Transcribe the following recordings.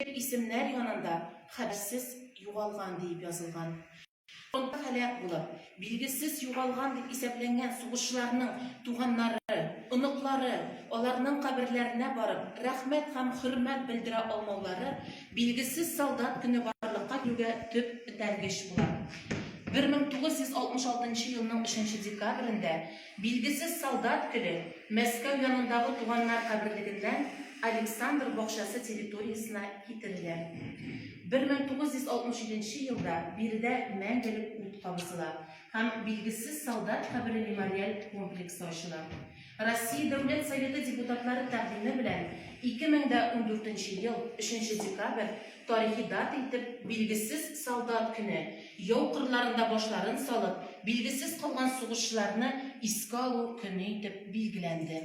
Дип исемнәр янында хәбәрсез югалган диеп язылган. Фронтта һәлак булып, билгесез югалган дип исәпләнгән сугышчыларның туганнары, оныклары аларның каберләренә барып, рәхмәт һәм хөрмәт белдерә алмаулары Билгесез солдат көне барлыкка килүгә төп этәргеч була. 1966 елның 3 нче декабрендә Билгесез солдат көле Мәскәү янындагы туганнар каберлегеннән Александр бакчасы территориясенә китерелә. 1967 нче елда биредә мәңгелек ут кабызыла һәм Билгесез солдат кабере мемориаль комплексы ачыла. Россия Дәүләт Советы депутатлары тәкъдиме белән 2014 нче ел 3 нче декабрь Тарихи дата итеп билгесез солдат көне, яу кырларында башларын салып, билгесез калган сугышчыларны искә алу көне итеп билгеләнде.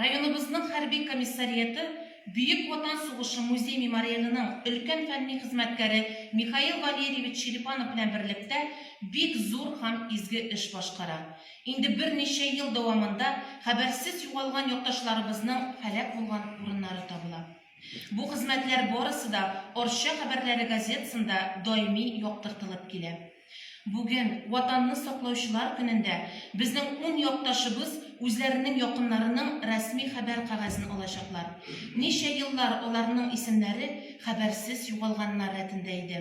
Районыбызның хәрби комиссарияты Бөек Ватан сугышы музей-мемориалының өлкән фәнни хезмәткәре Михаил Валерьевич Черепанов белән берлектә бик зур һәм изге эш башкара. Инде берничә ел дәвамында хәбәрсез югалган якташларыбызның һәлак булган урыннары табыла. Бу хезмәтләр барысы да Арча хәбәрләре газетасында даими яктыртылып килә. Бүген, Ватанны саклаучылар көнендә, безнең ун якташыбыз үзләренең якыннарының рәсми хәбәр кәгазен алачаклар. Ничә еллар аларның исемнәре хәбәрсез югалганнар рәтендә иде.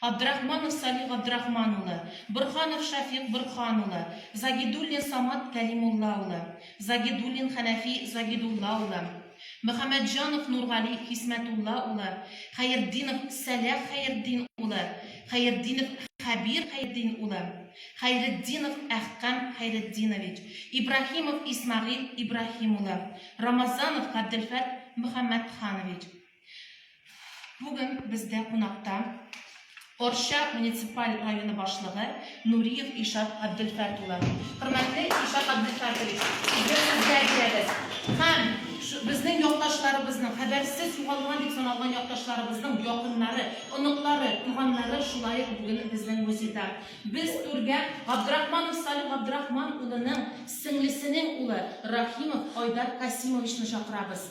Абдрахманов Салих Габдрахман улы, Борһанов Шәфикъ Борһан улы, Загидуллин Самат Кәлимулла улы, Загидуллин Хәнәфи Загидулла улы, Мөхәммәтҗанов Нургали Хисмәтулла улы, Хәертдинов Сәлах Хәертдин улы, Хәертдинов Хәбир Хәертдин улы, Хәйретдинов Әхкам Хәйретдинович, Ибраһимов Исмәгыйль Ибраһим улы, Рамазанов Габделфәт Мөхәммәтханович. Бүген бездә кунакта Орча муниципаль районы башлыгы Нуриев Ишат Абдельфәрт улы. Хөрмәтле Ишат Абдельфәртович, сезне сезгә бирәбез. Һәм безнең якташларыбызның, хәбәрсез югалган дип саналган якташларыбызның якыннары, оныклары, туганнары шулай ук бүген безнең музейда. Без түргә Габдрахманов Салих Габдрахман улының сеңлесенең улы Рахимов Айдар Касимовичны чакырабыз.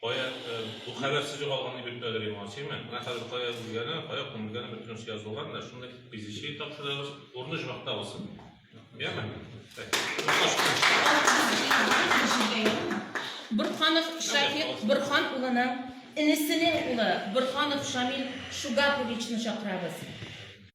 Кая бу хәбәрсез югалган дип бөтен әдәби мансыймы? Менә хәзер кая үлгәне, кая күмелгәне бөтен нәрсә язылган, менә шундый пизичи тапшырабыз, урыны җмакта булсын. Яме? Борханов Шафик Борхан улының инесенең улы Борханов Шамил Шугаповичны чакырабыз.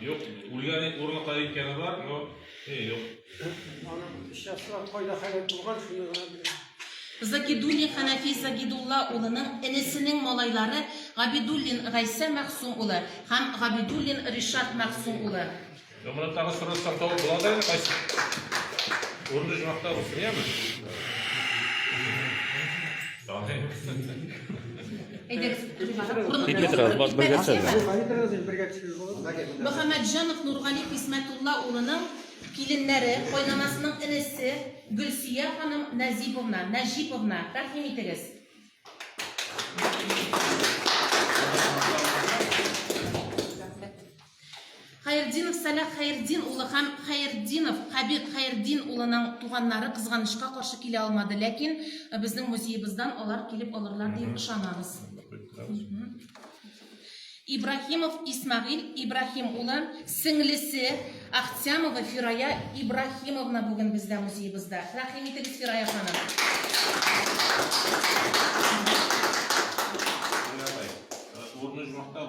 Юк, үлгәне урыны кая икәне бар, но э, юк. Загидуллин Ханафи Загидулла улының энесенең малайлары Габидуллин Гайсә Мәхсум улы һәм Габидуллин Ришат Мәхсум улы. Зөмрәттагы сорыстан табып була да инде кайсы? Урынды җимакта булсын, яме? Китми торабыз, баш бергә төшәбез. Мөхәммәтҗанов Нургали Хисмәтулла улының киленнәре, кайнанасының энесе Гөлсия ханым Назиповна, Нәҗиповна, тәкъдим итегез. Хәертдинов Сәлах Хәертдин улы һәм Хәертдинов Хәбир Хәертдин улының туганнары кызганычка каршы килә алмады, ләкин э, безнең музеебыздан алар килеп алырлар дип ышанабыз. Ибрахимов Исмагил Ибрахим улы, сеңлесе Ахтямова Фирая Ибрахимовна бүген бездә музеебызда. Рәхим итегез Фирая ханым. Урны жмакта,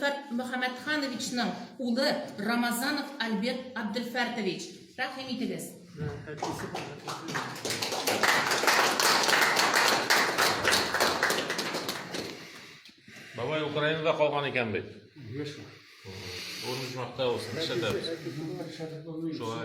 Фәрт Мөхәммәтхановичның улы Рамазанов Альберт Абделфәртович. Тәкъдим итегез. Бабай Украинада калган икән бит. Урынымыз мактау, шәһәр. Шулай.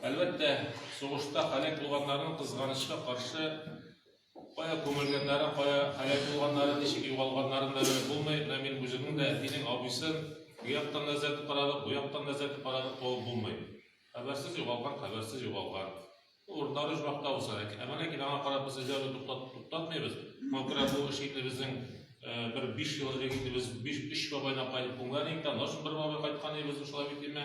Әлбәттә, сугышта һәлак булганнарның, кызганычка каршы, кая күмелгәннәре, кая һәлак булганнары, ничек югалганнарын да белеп булмый. Менә мин үземнең дә әтинең абыйсын бу яктан да эзләтеп карадык, бу яктан да эзләтеп карадык, табып булмый. Хәбәрсез югалган, хәбәрсез югалган. Урыннары оҗмахта булса да. Ә менә аңа карап без эзләүне туктат, туктатмыйбыз. Моңа күрә бу эш инде безнең бер биш ел элек инде без биш, өч бабайны кайтып күмгән идек тә, аннан соң бер бабай кайткан идек без шулай бит, димме?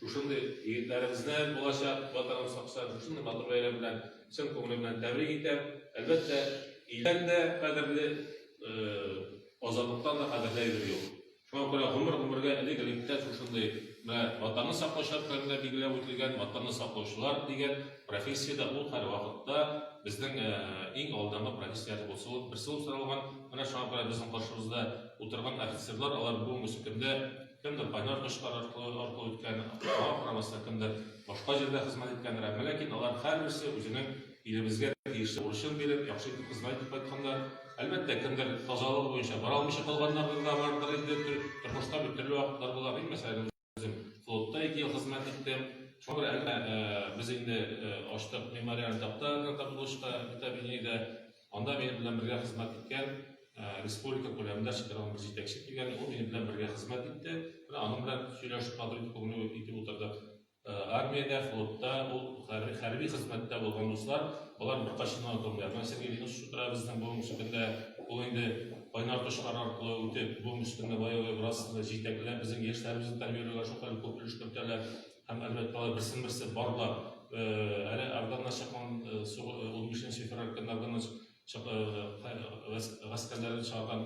Шушындый егетләребезне, булачак Ватаным сакчан, шушындый матур бәйрәм белән чын күңелем белән тәбрик итәм. Әлбәттә, илдән дә кадерле, азатлыктан да кадерле әйбер юк. Шуңа күрә гомер-гомергә элек-электә шушындый менә Ватанны саклау шартларында билгеләп үтелгән Ватанны саклаучылар дигән профессия дә ул һәрвакытта безнең иң алдагы профессия булса ул берсе булып саналган. Менә шуңа күрә безнең каршыбызда утырган офицерлар, алар бүгенге көндә кемдер кайнар кошлар аркылы аркылы үткән, Аллаһ карамаса, кемдер башка җирдә хезмәт иткәндер. Әмма ләкин алар һәрберсе үзенең илебезгә тиешле бурычын биреп, яхшы итеп хезмәт итеп кайтканнар. Әлбәттә, кемдер тазалыгы буенча бара алмыйча калганнардыр да бардыр инде. Тормышта бит төрле вакытлар була. Мин мәсәлән үзем флотта ике ел хезмәт иттем. Шуңа күрә әнә без инде ачтык мемориаль такта на табличка витаминеда. Анда минем белән бергә хезмәт иткән республика күләмендә чыгарылган бер җитәкче килгән, ул минем белән бергә хезмәт итте. Менә аның белән сөйләшеп кадыр күңел итеп утырдык. Армиядә, флотта, ул хәрби хезмәттә булган дуслар, алар беркайчан онытылмыйлар. Менә Сергей Ильич Шутра безнең буын өстендә, ул инде кайнар кошлар аркылы үтеп, буын өстендә баягы бераз җитәкләп, безнең яшьләребезне тәрбияләүгә шулкадәр күп өлеш кертәләр. Һәм, әлбәттә, алар берсен-берсе барлап, әле Афган начакан сугы 15 февраль көнне Афган гаскәрләрен чаган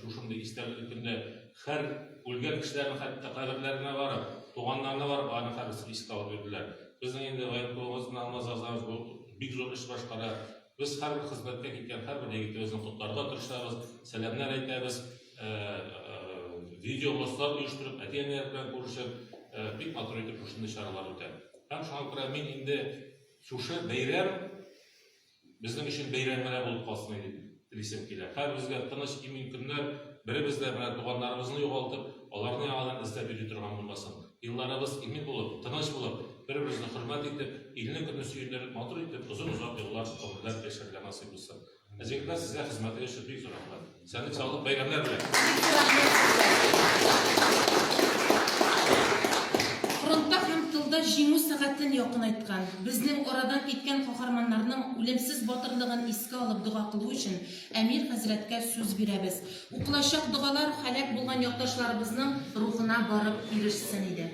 шушындый истәлекле көндә һәр үлгән кешеләрнең хәтта каберләренә барып, туганнарына барып, аны хәбәрсез искә алып йөрделәр. Безнең инде военкомыбызны алмаз азабыз бу бик зур эш башкара. Без һәрбер хезмәткә киткән һәрбер егетебезне котларга тырышабыз, сәламнәр әйтәбез. видео баслар оештырып, әти-әниләр белән күрешеп, бик матур итеп шушындый чаралар үтә. Һәм шуңа күрә мин инде шушы бәйрәм безнең өчен бәйрәм генә булып калсын дип телисем килә. Хәзер безгә тыныч имин көннәр, беребез дә менә туганнарыбызны югалтып, аларны яңадан эзләп йөри торган булмасын. Елларыбыз имин булып, тыныч булып, бер-беребезне хөрмәт итеп, илне көне сөендереп, матур итеп, озын-озак еллар гомерләр яшәргә насыйп булсын. Зәйкә сезгә хезмәте өчен бик зур рәхмәт. Сәләт салып бәйрәмнәр белән. Фронтта һәм тылда җиңү сәгатен якынайткан, безнең арадан киткән каһарманнарның үлемсез батырлыгын искә алып дога кылу өчен Әмир хәзрәткә сүз бирәбез. Укылачак догалар һәлак булган якташларыбызның рухына барып ирешсен иде.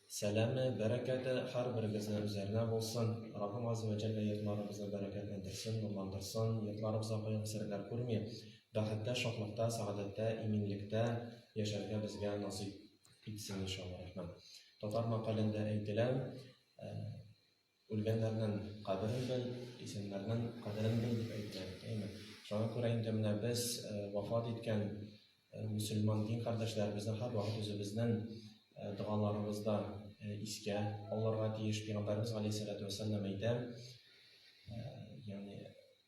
Сәламе, бәрәкәте һәрберегезнең үзләренә булсын! Раббым Азза вә Җәллә йортларыбызны бәрәкәтләндерсен, нурландырсын, йортларыбызга кайгы-хәсрәтләр күрми, бәхеттә, шатлыкта, сәгадәттә, иминлектә яшәргә безгә насыйп итсен, иншалла рахман. Татар мәкалендә әйтелә, Үлгәннәрнең кадерен бел, исәннәрнең кадерен бел, дип әйтә, әйеме? Шуңа күрә инде менә без вафат иткән мөселман дин кардәшләребезне һәрвакыт үзебезнең догаларыбызда искә алырга тиеш. Пәйгамбәребез галәйһиссәләтү вәссәлам әйтә, ягъни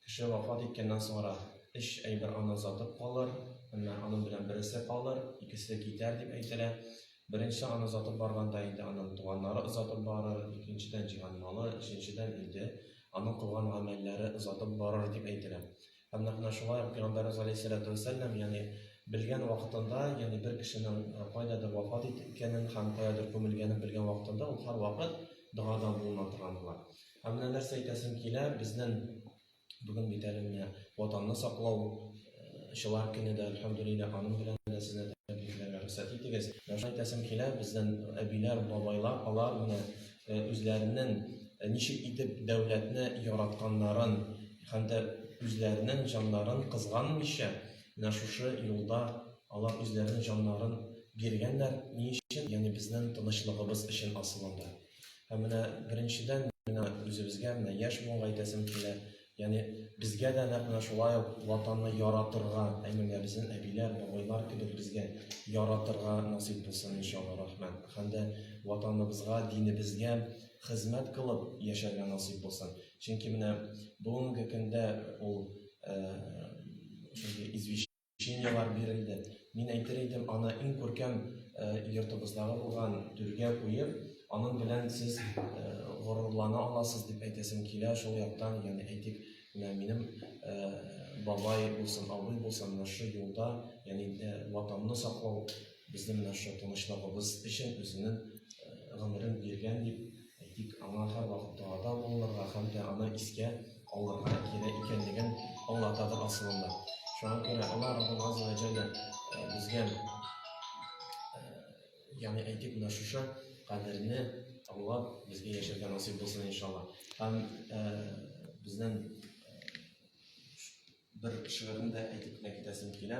Кеше вафат иткәннән соңрак, өч әйбер аннан затып калыр, әмма аның белән бересе калыр, икесе китәр, дип әйтелә. Беренче аны озатып барганда инде анын туганнары озатып барыр, икенчедән җыйган малы, өченчедән инде аның кылган гамәлләре озатып барыр, дип әйтелә. Һәм нәкъ менә шулай ук Пәйгамбәребез галәйһиссәләтү вәссәлам, ягъни белгән вакытында, ягъни бер кешенең кайдадыр вафат иткәнен һәм каядыр күмелгәнен белгән вакытында ул һәрвакыт догадан булына торган була. Ә менә нәрсә әйтәсем килә, безнең бүген бит әле менә ватанны саклау чылар көне дә, әлхәмдулилла, аның белән дә сезне тәбрикләргә рөхсәт итегез. Менә шулай әйтәсем килә, безнең әбиләр, бабайлар, алар менә үзләренең ничек итеп дәүләтне яратканнарын һәм дә үзләренең җаннарын кызганмыйча, менә шушы юлда алар үзләренең җаннарын биргәннәр. Ни өчен? Ягъни безнең тынычлыгыбыз өчен асылында. Ә менә беренчедән мина үзебезгә менә яшь буынга әйтәсем килә. Яни безгә дә нәкъ менә шулай ук ватанны яратырга, әниләр, безнең әбиләр, бабайлар кебек безгә яратырга насыйп булсын иншалла рахман. Һәм дә ватаныбызга, динебезгә хезмәт кылып яшәргә насыйп булсын. Чөнки менә бүгенге көндә ул э, шундый извещение Чинияләр бирелде. Мин әйтер идем, аны иң күркәм йортыбыздагы булган түргә куеп, аның белән сез горурлана аласыз дип әйтәсем килә. Шул яктан, ягъни әйтик, менә минем бабай булсын, абый булсын, менә шушы юлда, ягъни Ватанны саклау, безнең менә шушы тынычлыгыбыз өчен үзенең гомерен биргән дип Әйтик, аңа һәрвакыт догада булынырга һәм дә аны искә алырга кирәк икәнлеген аңлатадыр асылында. Шуңа күрә Аллаһ Раббым Азза ва Җәллә э, безгә, э, ягъни әйтик, менә шушы кадерне аңлап, безгә яшәргә насыйп булсын, иншалла. Һәм э, безнең бер шигырен дә әйтеп кенә китәсем килә.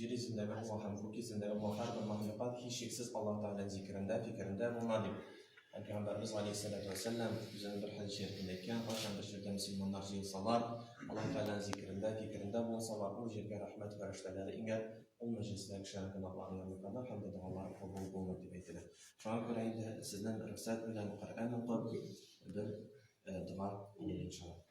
Җир йөзендәге һава һәм күк йөзендәге һава һәрбер мәхлукат һичшиксез Аллаһ Тәгаләнең зикерендә, фикерендә булна, дип һәм Пәйгамбәребез галәйһиссәләтү вәссәлам үзенең бер хәдис шәрифендә әйткән, кайчан бер җирдә мөселманнар җыелсалар, Аллаһ Тәгаләнең зикерендә, фикерендә булсалар, ул җиргә рәхмәт фәрештәләре иңәр, ул мәҗлестә кешеләрнең гөнаһларын юрганнар һәм дә догалары кабул булыр, дип әйтелә. Шуңа күрә инде сезнең рөхсәт белән Коръән укып, бер дога кылыйк, иншаллаһ.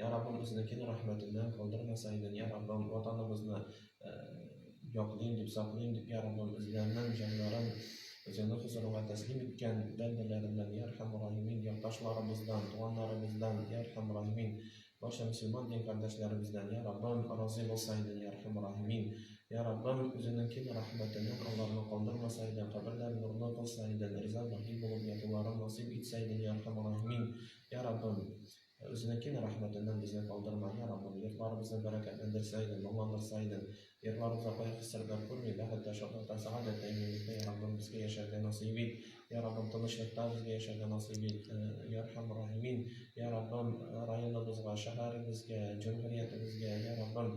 Я Раббым үзенекен рәхмәтеннән калдырмаса идең, Я Раббым ватаныбызны яклыйм дип, саклыйм дип, Я Раббым үзләренең җаннарын Үзеңнең хозурыңа тәслим иткән бәндәләреннән, Я Рәхәм Рәхимин, якташларыбыздан, туганнарыбыздан, Я Рәхәм Рәхимин, барча мөселман дин кардәшләребездән, Я Раббым разый булса идең, Я Рәхәм Рәхимин, Я Раббым үзенекен рәхмәтеннән аларны калдырмаса идең, каберләрен нурлы кылса идең, риза бәхи булып ятуларын насыйп итсә идең, Я Рәхәм Рәхимин, Я Раббым Ә үзенең киң рәхмәтеннән безне калдырма, йә Раббым, йортларыбызны бәрәкәтләндерсә идең, моңландырса идең, йортларыбызда кайгы-хәсрәтләр күрми, бәхеткә, шатлыкка, сәгадәткә әйләнергә, йә Раббым, безгә яшәргә насыйп ит, йә Раббым, тынычлыкта безгә яшәргә насыйп ит, йә Әрхәм Рәхимин, йә Раббым, районыбызга, шәһәребезгә, җәмгыриятебезгә, йә Раббым,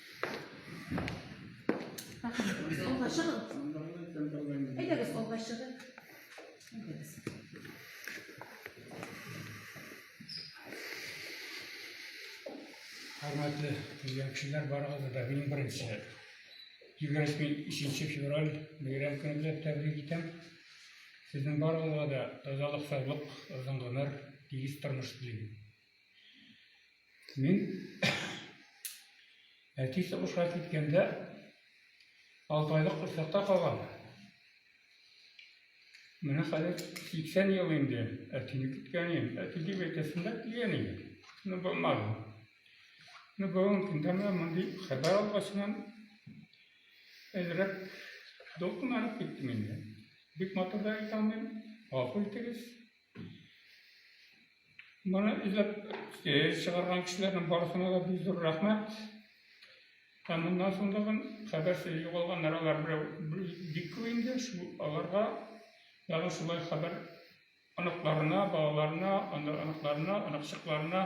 Хөрмәтле үзбәкчеләр барыгызны да мин беренче 23 февраль бәйрәм көне белән тәбрик итәм. Сезнең барыгызга да тазалык, саулык, озын гомер, тигез тормыш телим. Мин әти сугышка киткәндә алты айлык курсакта калган. Менә хәзер 80 ел инде әтине көткәне, әти дип әйтәсем дә килгән иде. Ну, булмады. Ну, бүгенге көндә менә мондый хәбәр алгачыннан әзрәк дулкынланып киттем инде. Бик матур да әйтә алмыйм, гафу итегез. Моны эзләп чыгарган кешеләрнең барысына да бик зур рәхмәт. Һәм моннан соң да мин хәбәрсез югалган нәрәләр бик күп инде, аларга ягы шулай хәбәр оныкларына, балаларына, оныкларына, оныкчыкларына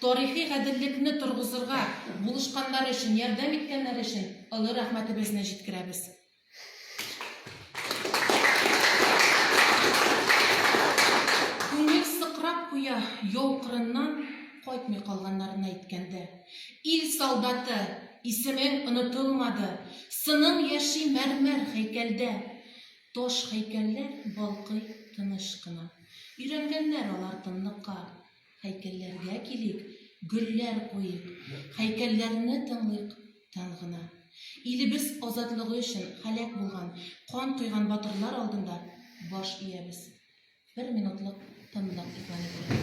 Тарихи гаделлекне торгызырга булышканнары өчен, ярдәм иткәннәре өчен олы рәхмәтебезне җиткерәбез. Күңел сыкрап куя, яу кырыннан кайтмый калганнарны әйткәндә. Ил солдаты, исемең онытылмады, сының яши мәрмәр һәйкәлдә. Таш һәйкәлләр балкый тыныч кына. Өйрәнгәннәр алар тынлыкка. Һәйкәлләргә килик, гөлләр куйыйк, Һәйкәлләрне тыңлыйк тын гына. Илебез азатлыгы өчен һәлак булган, кан койган батырлар алдында баш иябез. Бер минутлык тынлык игълан ителә.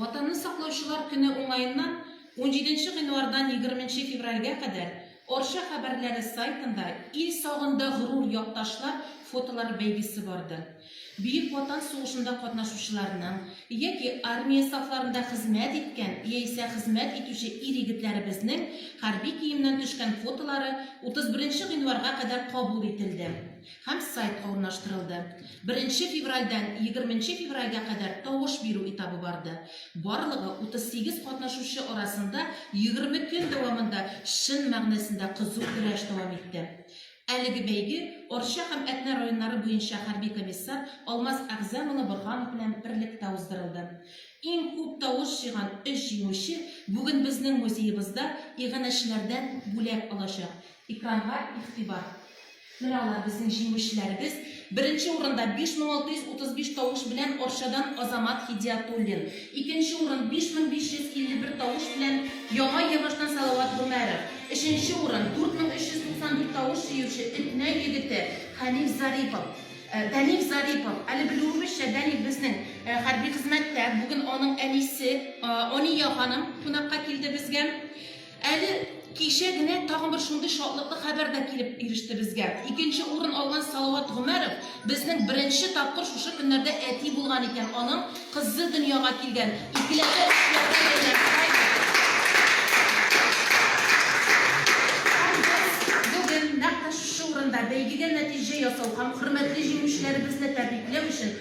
Ватанны саклаучылар көне уңаеннан унҗиденче гыйнвардан егерменче февральгә кадәр Арча хәбәрләре сайтында Ил сагында горур якташлар фотолары бәйгесе барды. Бөек Ватан сугышында катнашучыларның яки армия сафларында хезмәт иткән яисә хезмәт итүче ир-егетләребезнең хәрби киемнән төшкән фотолары утыз беренче гыйнварга кадәр кабул ителде. һәм сайтка урнаштырылды. Беренче февральдән егерменче февральгә кадәр тавыш бирү этабы барды. Барлыгы 38 катнашучы арасында егерме көн дәвамында чын мәгънәсендә кызу көрәш дәвам итте. Әлеге бәйге Арча һәм Әтнә районнары буенча хәрби комиссар Алмаз Әгъзам улы Борһанов белән берлектә уздырылды. Иң күп тавыш җыйган өч җиңүче бүген безнең музеебызда иганәчеләрдән бүләк алачак. Экранга игътибар. Менә алар, безнең җиңүчеләребез. Беренче урында 5635 тавыш белән Арчадан Азамат Һидиятуллин. Икенче урын 5551 тавыш белән Яңа Йәбаштан Салават Гомәров. Өченче урын 4394 тавыш җыючы Этнә егете Хәниф Зарипов. Э, Дәниф Зарипов. Әле белүебезчә, Дәниф безнең э, хәрби хезмәттә. Бүген аның әнисе э, Ания ханым кунакка килде безгә. Әле кичә генә тагын бер шундый шатлыклы хәбәр дә килеп иреште безгә. Икенче урын алган Салават Гомәров безнең беренче тапкыр шушы көннәрдә әти булган икән, аның кызы дөньяга килгән. Икеләтә эшләргә әйләнеп кайттык. Бүген нәкъ тә шушы урында бәйгедә нәтиҗә ясау һәм хөрмәтле җиңүчеләребезне тәбрикләү өчен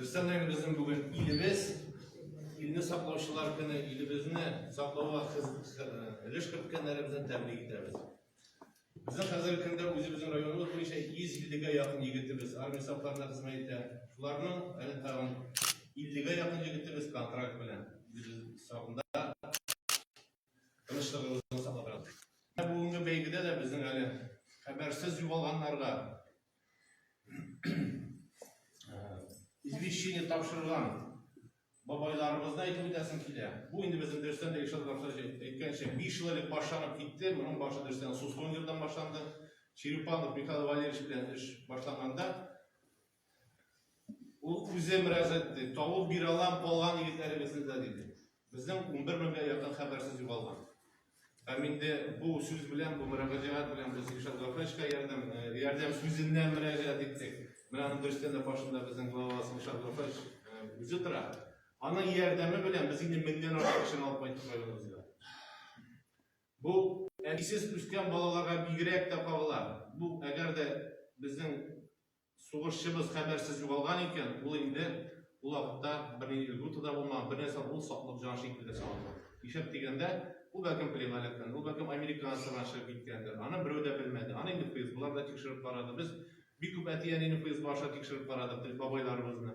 Рөстәм Наил безнең бүген илебез, илне саклаучылар көне, илебезне саклауга өлеш керткәннәребезне тәбрик итәбез. Безнең хәзерге көндә үзебезнең районыбыз буенча 150-гә якын егетебез армия сафларына хезмәт итә. Шуларның әле тагын 50-гә якын егетебез контракт белән үзебез сагында Тынычлыгыгызны саклап торам. Ә бүгенге бәйгедә дә безнең әле хәбәрсез югалганнарга извещение тапшырган бабайларыбызны әйтеп үтәсем килә. Бу инде безнең дөрестән дә Илшат Габдуллович әйткәнчә, 5 ел элек башланып китте. Моның башы дөрестән Сускон җирдән башланды. Черепанов Михаил Валерьевич белән эш башланганда Ул үзе мөрәҗәгать итте. Тавыл бирә алам, калган егетләребезне дә, диде. Безнең унбер меңгә якын хәбәрсез югалган. Һәм инде бу сүз белән, бу мөрәҗәгать белән без Илшат Гафаевичка ярдәм, ярдәм сүзеннән мөрәҗәгать иттек. Менә аның берсенә дә башында безнең главабыз Илшат Гафаевич үзе тора. Аның ярдәме белән без инде меңнән артык кешене алып кайттык районыбызга. Бу әбисез үскән балаларга бигрәк тә кагыла. Бу әгәр дә безнең Сугышчыбыз хәбәрсез югалган икән, ул инде ул вакытта бернинди льгота да булмаган, бернәрсә, ул саклык җан шикелле дә саклык. Нишләп дигәндә, ул бәлкем пленалектән, ул бәлкем американец торган чыгып киткәндер, аны берәү дә белмәде, аны инде ФСБлар да тикшереп карады, без бик күп әти-әнине ФСБ аша тикшереп карадык, бабайларыбызны.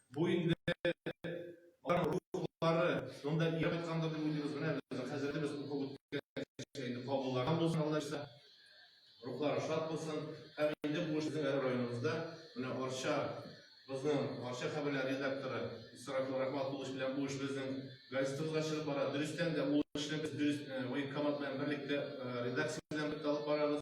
Бу инде алар рухлары, монда ияреп кайткандыр дип уйлыйбыз, менә без хәзерге без укып үткән кичә инде кабуллаган булсын Алла җәза, рухлары шат булсын һәм инде бу эшнең әле районыбызда менә Арча бызның Арча хәбәрләр редакторы Исрафил Рахматуллович белән бу эш безнең газетабызга чыгып бара, дөрестән дә ул эшне без дөрес военкомат белән берлектә редакция белән бергә алып барабыз.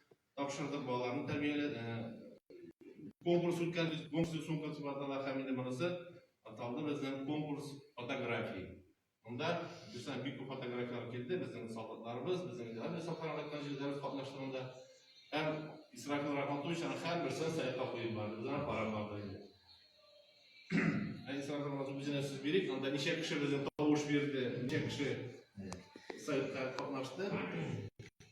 тапшырдык, балаларны тәрбияләдек. Конкурс үткәрдек, конкурсның соңгы концепатлары һәм инде монысы аталды безнең конкурс фотографии. Монда бездән бик күп фотографияләр килде, безнең солдатларыбыз, безнең дәүләт саклары кайткан җирләр катнаштыгында. Һәм Исрафил Рахматович аны һәрберсен сайтка куеп барды, без аны карап бардык инде. Ә Исрафил Рахматович үзенә сүз бирик, анда ничә кеше безнең тавыш бирде, ничә кеше сайтка катнашты.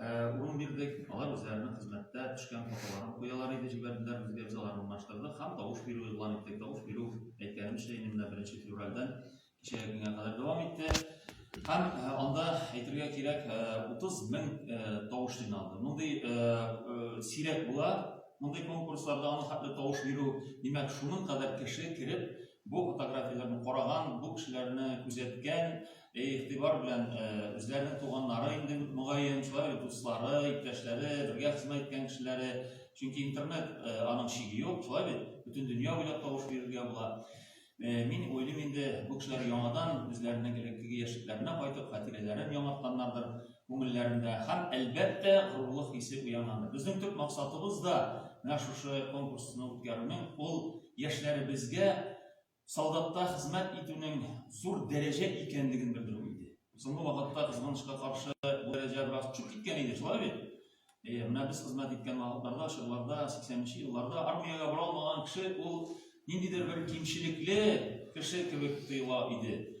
Урын бирдек, алар үзләренең хезмәттә төшкән фотоларын куялар иде, җибәрделәр, безгә, без аларны урнаштырдык һәм тавыш бирү игълан иттек. Тавыш бирү, әйткәнемчә инде, менә беренче февральдән кичәге көнгә кадәр дәвам итте. Һәм анда, әйтергә кирәк, 30 мең тавыш җыйналды. Мондый сирәк була, мондый конкурсларда аның хәтле тавыш бирү. Димәк, шуның кадәр кеше кереп, бу фотографияләрне караган, бу кешеләрне күзәткән, Бәй игътибар белән үзләренең туганнары инде мөгаен, шулай ук дуслары, иптәшләре, бергә хезмәт иткән кешеләре. Чөнки интернет аның чиге юк, шулай бит? Бөтен дөнья буйлап тавыш бирергә була. Мин уйлыйм инде, бу кешеләр яңадан үзләренең элеккеге яшьлекләренә кайтып, хатирәләрен яңартканнардыр, күңелләрендә һәм әлбәттә горурлык хисе уянганнар. Безнең төп максатыбыз да менә шушы конкурсны үткәрүнең ул яшьләребезгә солдатта хезмәт итүнең зур дәрәҗә икәнлеген белдерү иде. Соңгы вакытта кызганычка каршы бу дәрәҗә бераз төшеп киткән иде, шулай бит? Э, менә без хезмәт иткән вакытларда, чорларда, 80-нче елларда армиягә бара алмаган кеше ул ниндидер бер кимчелекле кеше кебек тоела иде.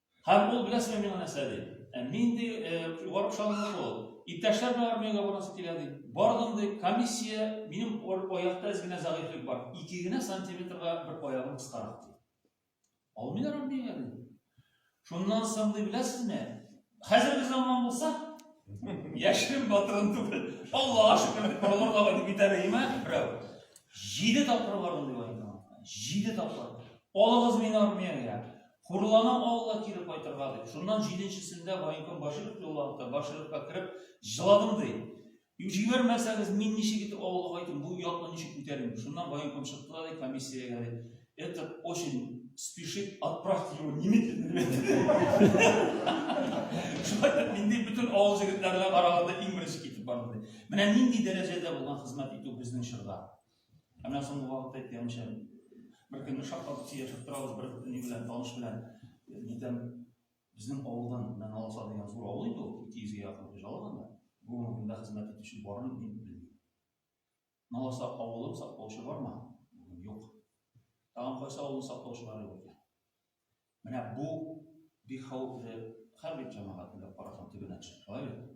Һәм ул, беләсеңме, миңа нәрсә ди? Ә нинди югары чалымлык ул? Иптәшләр белән армиягә барасы килә ди. Бардым ди, комиссия, минем аякта әз генә зәгыйфьлек бар. Ике генә сантиметрга бер аягым кыскарак ди. Алмыйлар армиягә ди. Шуннан соң ди, беләсезме? Хәзерге заман булса, яшерен батырын түгел. Аллага шөкер, балаларга дип итәләйме? Берәү. Җиде тапкыр бардым ди, җиде тапкыр. Алыгыз мине армиягә. Хурлана алла кире кайтырга дип. Шуннан җиденчесендә военком Баширов юлланды, Башировка кереп җыладым ди. Җибәрмәсәгез, мин ничек итеп авылга кайтым, бу ятны ничек күтәрим? Шуннан военком чыкты да ди, комиссиягә ди. Это очень спешит, отправьте его немедленно. Шулай да миндей бөтен авыл җегетләренә караганда иң беренче китеп барды. Менә нинди дәрәҗәдә булган хезмәт итү безнең чорда. Әмә соңгы вакытта әйткәнемчә, бер көнне шаккатып сөйләшеп торабыз бер ни белән, таныш белән. Нидән безнең авылдан менә Алса дигән зур авыл инде ул, 200 гә якын хуҗалык анда. Бу урында хезмәт итүче бармы, мин белмим. Наласа авылын саклаучы бармы? Бүген юк. Тагын кайсы авылны саклаучылар юк икән? Менә бу бик хәвефле хәрби җәмәгать белән карасын төбенә төшеп, алай бит?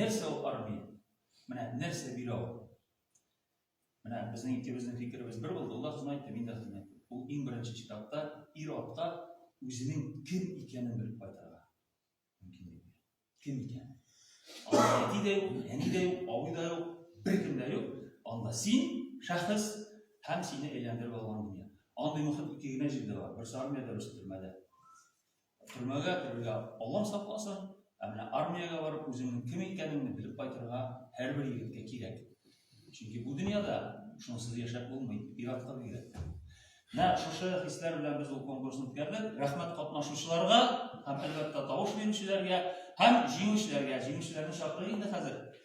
Нәрсә ул армия? Менә нәрсә бирә ул? Менә безнең икебезнең фикеребез бер булды. Ул да хезмәт итте, мин дә хезмәт иттем. Ул иң беренче читапта ир атка үзенең кем икәнен белеп кайтарга мөмкинлек бирә. Кем икәнен. Анда әти дә юк, әни дә юк, абый да юк, беркем дә юк. Анда син, шәхес, һәм сине әйләндереп алган дөнья. Андый мөхит ике генә җирдә бар. Берсе армиядә, берсе төрмәдә. Төрмәгә керергә Аллам сакласын, ә менә армиягә барып үзеңнең кем икәнеңне белеп кайтырга һәрбер егеткә кирәк. Чөнки бу дөньяда шунсыз яшәп булмый, ир-атка бигрәк. Менә шушы хисләр белән без ул конкурсны үткәрдек. Рәхмәт катнашучыларга һәм әлбәттә тавыш бирүчеләргә һәм җиңүчеләргә. Җиңүчеләрне чакырыйк инде хәзер.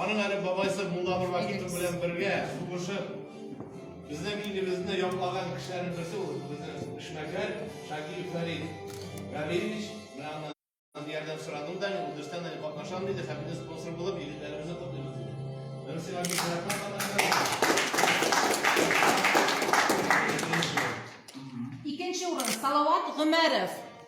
Аның әле бабайсы Мулла Нуракимов белән бергә сугышып, безнең илебезне яклаган кешеләрнең берсе ул безнең эшмәкәр Шакиев Фәрид Галиевич. Менә аннан ярдәм сорадым да, ул дөрестән дә катнашам диде, һәм безнең спонсор булып егетләребезне котлыйбыз диде. Мин сиңа бик рәхмәт катнашкан. Икенче урын Салават Гомәров.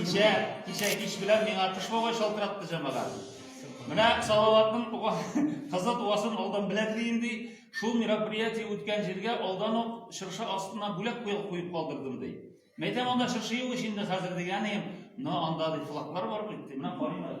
Кичә, кичә кич белән миңа кыш бабай шалтыратты җамага. Менә Салаватның кызы туасын алдан беләдер инде. Шул мероприятие үткән җиргә алдан ук чыршы астына бүләк куеп куеп калдырдым ди. Мәйтәм анда чыршы юк ич инде хәзер дигәнем. Но анда ди флаглар бар бит. Менә карыйм әле.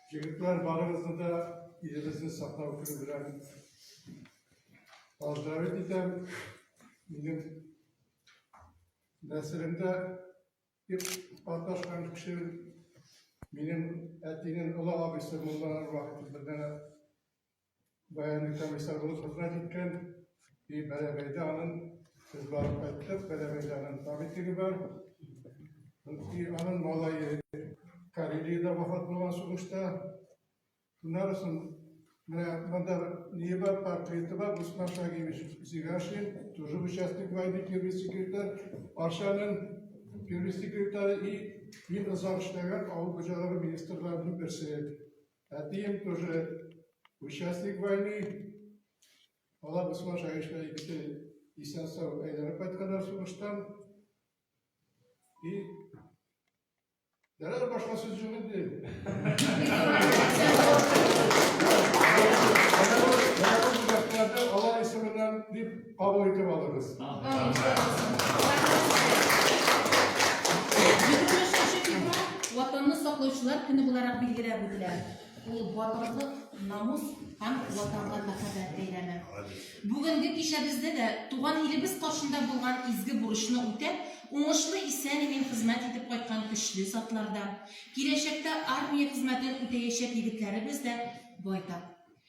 Егетләр, барыгызны да илебезне саклау көне белән поздравить итәм. Минем нәселемдә дип катнашкан кеше минем әтинең олы абыйсы монда вакыт бергә Баянның комиссар булып хезмәт иткән, и Бәрәбәйдә аның без барып кайттык, Бәрәбәйдә аның памятниге бар. И аның малае Карелиядә вафат булган сугышта. Шуннан соң менә монда ни бар, портреты бар, Гусман Шагиевич Зигашин, тоже участник войны, первый секретарь, Арчаның первый секретарь и мин озак эшләгән авыл хуҗалыгы министрларының берсе. Әтием тоже участник войны. Алар Усман Шагишна икесе исән сау әйләнеп кайтканнар сугыштан. И Дәрәр башка сүз юк инде. Алар исеменнән дип Кабул итеп алыгыз. Ватанны саклаучылар көне буларак билгеләп үтелә. Ул батырлык, намус һәм ватанга мәхәббәт бәйрәме. Бүгенге кичәбездә дә туган илебез каршында булган изге бурычны үтәп, уңышлы исән-имин хезмәт итеп кайткан көчле затларда, киләчәктә армия хезмәтен үтәячәк егетләребез дә байтак.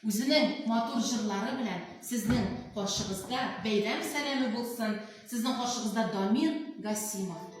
Үзенең матур җырлары белән сезнең каршыгызда бәйрәм сәламе булсын, сезнең каршыгызда Дамир Гасимов.